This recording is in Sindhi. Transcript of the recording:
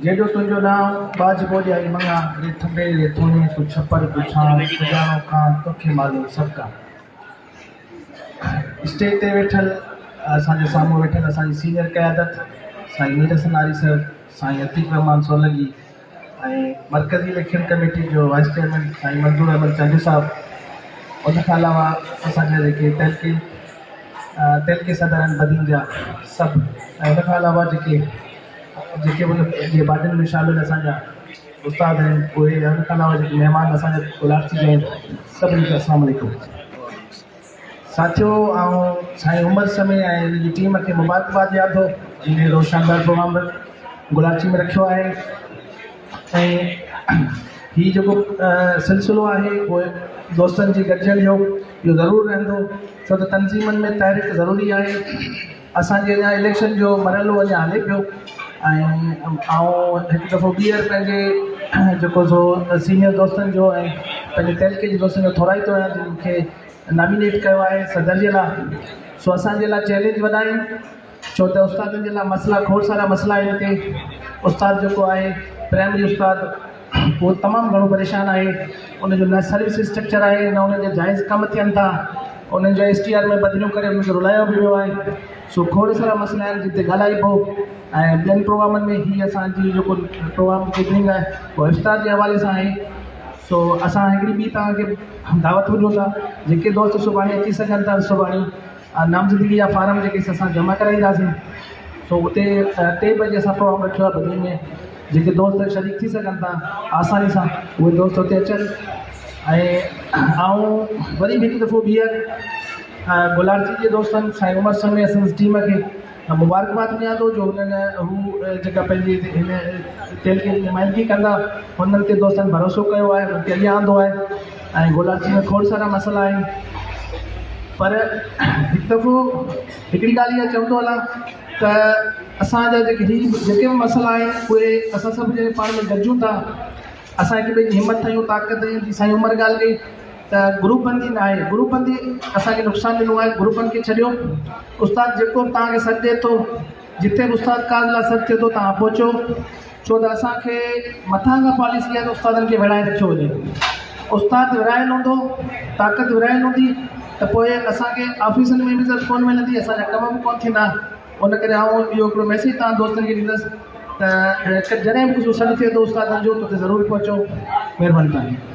جيڏو تنهنجو نانء ٻاجهه ٻوڏيائي مڱان ري ٿٻي ري ٿوڻي تون ڇپر تون ڇانء سڄاڻو ڪان توکي معلوم سڀ ڪان اسٽيج تي ويٺل اسان جي سامهون ويٺل اسان جي سينيئر قيادت سائين ميرحسن آري صاحب سائين عتيق رحمان سولنگي ۽ مرڪزي اليڪشن ڪميٽي جو وائيس چيئرمين سائين منظور احمد چانڊيو صاحب ان کان علاوه اسان جا جيڪي تعلقي تعلقي صدر آهن بدين جا سڀ ۽ ان کان علاوه جيڪي جيڪي ان جي بادين ۾ شامل اسان جا استاد آهن اهي ان کان علاوه جيڪي مهمان اسان جا ڪلاڪسي جا آهن سڀني کي السلام عليڪم ساٿيو آئون سائين عمر سمي ۽ ان جي ٽيم کي مبارڪباد ڏيان ٿو جن اهڙو شاندار پروگرام گلاچي ۾ رکيو آهي ۽ هي جيڪو سلسلو آهي اهو دوستن جي گڏجڻ جو اهو ضرور رهندو ڇو ته تنظيمن ۾ تحرڪ ضروري آهي اسان جي اڃا اليڪشن جو مرحلو اڃا هلي پيو ۽ آئون هڪ دفعو ٻيهر پنهنجي جيڪو سو سينيئر دوستن جو ۽ پنهنجي تعلقي جي دوستن جو ٿورائتو آهيان جن مون کي نامينيٽ ڪيو آهي صدر جي لاء سو اسان جي لاء چئلينج وڏا آهن ڇو ته استادن جي لاء مسئلا کوڙ سارا مسئلا آهن هتي استاد جيڪو آهي پرائمري استاد اهو تمام گهڻو پريشان آهي ان جو نه سروس اسٽرڪچر آهي نه ان جا جائز ڪم ٿين ٿا انهن جو ايس ٽي آر ۾ بدليون ڪري انهن کي رلايو به ويو آهي سو کوڙ سارا مسئلا آهن جن تي ڳالهائبو ۽ ٻين پروگرامن ۾ هي اسان جي جيڪو پروگرام ڪيٽرنگ آهي اهو افطار جي حوالي سان آهي سو اسان هڪڙي ٻي توهان کي دعوت ڏيون ٿا جيڪي دوست سڀاڻي اچي سگهن ٿا سڀاڻي نامزدگي جا فارم جيڪي اسان جمع ڪرائينداسين سو اتي ٽي بجي اسان پروگرام رکيو آهي بدين ۾ جيڪي دوست شريڪ ٿي سگهن ٿا آساني سان اهي دوست اتي اچن ۽ آئون وري به هڪ دفعو ٻيهر گلارتي جي دوستن سائين عمر سميت سندس ٽيم کي مان مبارڪباد ڏيان ٿو جو هنن هو جيڪا پنهنجي هن تيل جي نمائندگي ڪندا هنن تي دوستن ڀروسو ڪيو آهي هنن کي اڳيان آندو آهي ۽ گولاچي ۾ کوڙ سارا مسئلا آهن پر هڪ دفعو هڪڙي ڳالهه اها چوندو هلان ته اسان جا جيڪي هي جيڪي به مسئلا آهن اهي اسان سڀ ڄڻي پاڻ ۾ گڏجون ٿا اسان هڪ ٻئي جي همت ٺاهيون طاقت ڏيون جي سائين عمر ڳالهه ڪئي ته گروپ بندي ناهي گروپ بندي اسان کي نقصان ڏنو آهي گروپ بند کي ڇڏيو استاد جيڪو به توهان کي سڏ ڏي ٿو جتي به استاد ڪاز لاء سڏ ٿئي ٿو توهان پهچو ڇو ته اسان کي مٿان کان پاليسي آهي ته استادن کي ورهائي رکيو وڃي استاد ورهايل هوندو طاقت ورهايل هوندي ته پوء اسان کي آفيسن ۾ به عزت ڪونه ملندي اسان جا ڪم به ڪونه ٿيندا ان ڪري آئون اهو هڪڙو ميسيج توهان دوستن کي ڏيندس ته جڏهن به ڪجهه سڏ ٿئي ٿو استادن جو ته اتي ضرور پهچو مهرباني توهان جي